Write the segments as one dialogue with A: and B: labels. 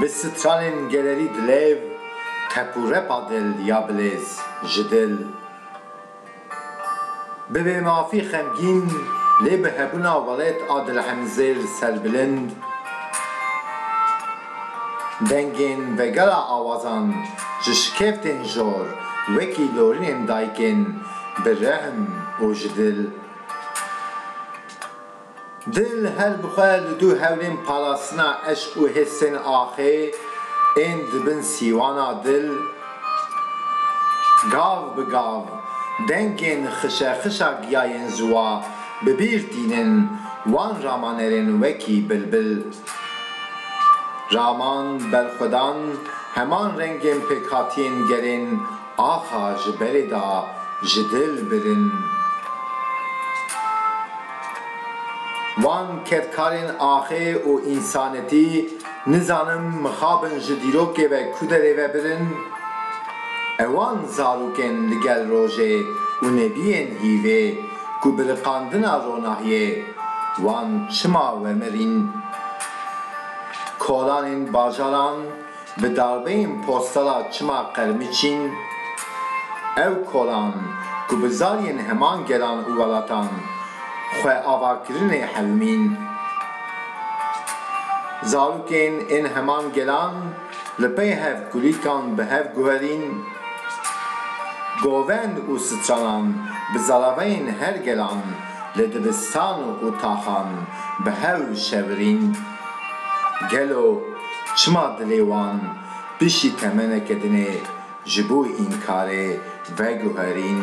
A: Bi stralên gelerî dilêv tep û repa dil ya bilêz ji dil. Bi bêmafî xemgîn lê bi hebûna welêt a dilhemzêr serbilind. Dengên vegera awazan ji şikeftên jor wekî lorinên dayikên bi rehm û ji dil. Di li her bi xwe li du hewlên parastina eşq û hêrsên axê ên di bin sîwana dil, gav bi gav dengên xişexişa giyayên ziwa bi bîr tînin, wan ramanerên wekî bilbil, raman, berxwedan, heman rengên pêkhatiyên gerên Axa ji belê da ji dil birin. Van kedkarên axê û însanetî nizanim mixabin ji dîrokê ve ku derê ve birin? Ewan zarokên li gel rojê û nebiyên hîvê ku bi riqandina ronahiyê wan çima wemirîn? Kolanên bajaran Bi darbeyên postala Çima qermî çîn? Ew kolan ku bi zariyên heman gelan û welatan xwe avakirinê hevimîn. Zarokên ên heman gelan li pey hev kulîlkan bi hev guherîn. Govend û stranan bi zaraveyên her gelan li dibistan û taxan bi hew şevirîn. Gelo çima dilê wan piştî temeneke din ê ji bo înkarê veguherîn?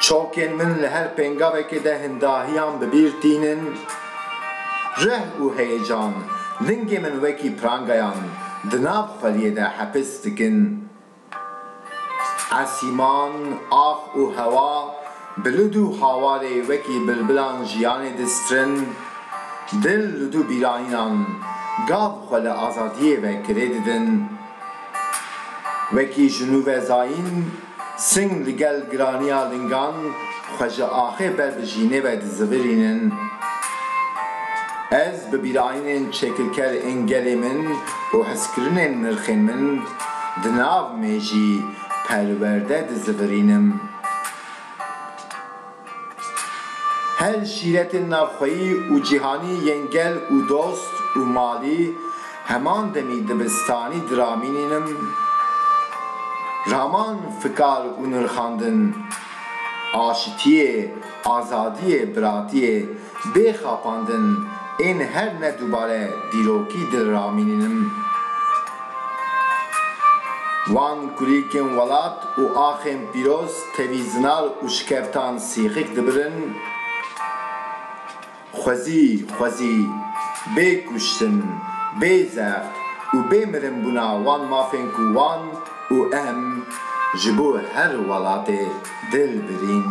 A: Çokên min li her pêngavekê de hin dahiyan bi bîr tînin. Rih û heyecan lingê min wekî prangayan di nav xweliyê de hepis dikin. Esîman, ax û hewa, bi li dû hawarê wekî bilbilan jiyanê distirin, dil li dû bîranînan gav xwe li azadiyê ve kirê didin. Wekî ji nû ve zayîn, sing li gel giraniya lingan xwe ji axê ber bi jînê ve dizivirînin. Ez bi bîranînên çêkilker ên gelê min û hizkirinên nirxên min, Di nav me jî perwerde dizivirînim. Her şîretên navxweyî û cîhanî yên gel û dost û malî heman demî dibistanî diramînînim. Raman fikar û nirxandin, aşitiyê, Azadiyê biratiyê bê xapandin ên her ne dubare dîrokî dil ramînînim. Wan kulîlkên welat û axên pîroz tevî zinar û şikeftan sîxik dibirin. Xwezî xwezî bê kuştin, bê zext û bê mirin bûna wan mafên ku wan û em ji bo her welatê dil birîn.